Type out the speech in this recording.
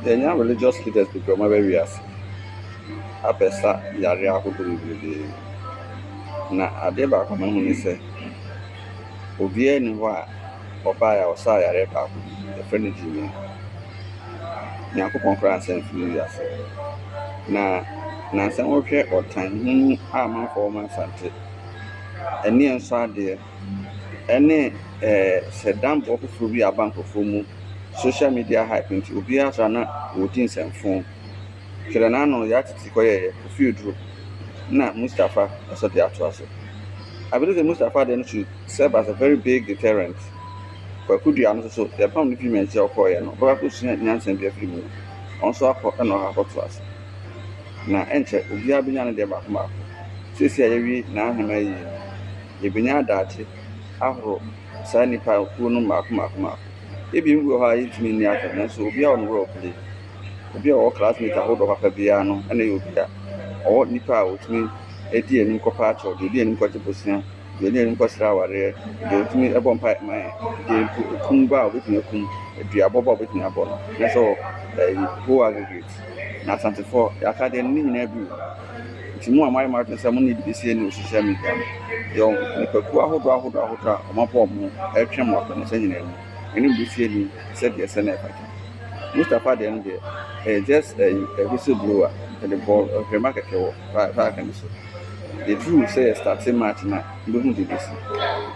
Yɛanya religious leaders bebree a wɔaba wiase abɛsa yareɛ ahodoɔ bebrebee. Na adeɛ baako a mahu ne sɛ, obiara nni hɔ a ɔbaeɛ a ɔsaa yareɛ baako bi. Wɔfrɛ no gyimii. Onyankopɔn koraa ansa amfiri wiase. Na nnansa yi wohwɛ ɔtan, huhu a amanfoɔ wɔ Asante, ani a ɛnsɔ adeɛ. ɛne sɛdambɔ foforɔ bi a aba nkorɔfoɔ mu, social media hype nti obiara sɔre a na ɔredi nsɛmfo. Twerɛ no ano, Yaa Titi kɔyɛeɛ, Kofi Oduro na Mustapha nso de atoa so. I believe sɛ Mustapha deɛ no should serve as a very big deterrent. Kwaku Duah no nso so, yɛpam no firi Manhyia a ɔkɔeɛ no, ɔbɛkɔ akɔsua nyansa bi afiri mu. Ɔno nso akɔ na ɔakɔ akɔtoa so. Na ɛnkyɛ obiara bɛnya ne deɛ baako baako. Seesei a yɛawie Naa Hemaa ayie no, Yɛbɛnya adagye ahorow saa nnipa kuo no mmaako mmaako mmaako. Ebi mo bi wɔ hɔ a yɛntumi nni atɔ nanso obiara wɔ ne role play. Obi a ɔwɔ classmate ahodoɔ papa biara no na ɛyɛ obi a ɔwɔ nnipa a ɔtumi di anim kɔ pa akyɛw, deɛ ɔdi anim kɔ gye bosea, deɛ ɔdi anim kɔ srɛ awareɛ, deɛ ɔtumi bɔ mpaeɛ ma yɛn, deɛ mpo ɛkum bɔ a ɔbɛtumi akum, duabɔ bɔ a ɔbɛtumi abɔ no. Ɛsɛ sɛ ɔwɔ ɛyi whole aggregate. Na Asantefoɔ yɛaka deɛ no ne nyinaa bi wɔ mu. Nti mo a moayɛ mo adwene sɛ mo ne BBC anni wɔ social media no, yɛwɔ nnipakuo ahodoɔ ahodoɔ ahodoɔ a wɔabɔ wɔn ho retwɛn mo akɔ ne saa nyinaa mu. Me ne BBC anni sɛdeɛ ɛsɛ na ɛfata. Mustapha deɛ no deɛ, ɛyɛ just ɛyi, a whistle blower, yɛde bɔɔ nhwɛmma kɛkɛ wɔ saa saa aka no so. Yɛduruu sɛ yɛ starte match no a, wobɛhu deɛ ɛbɛsi.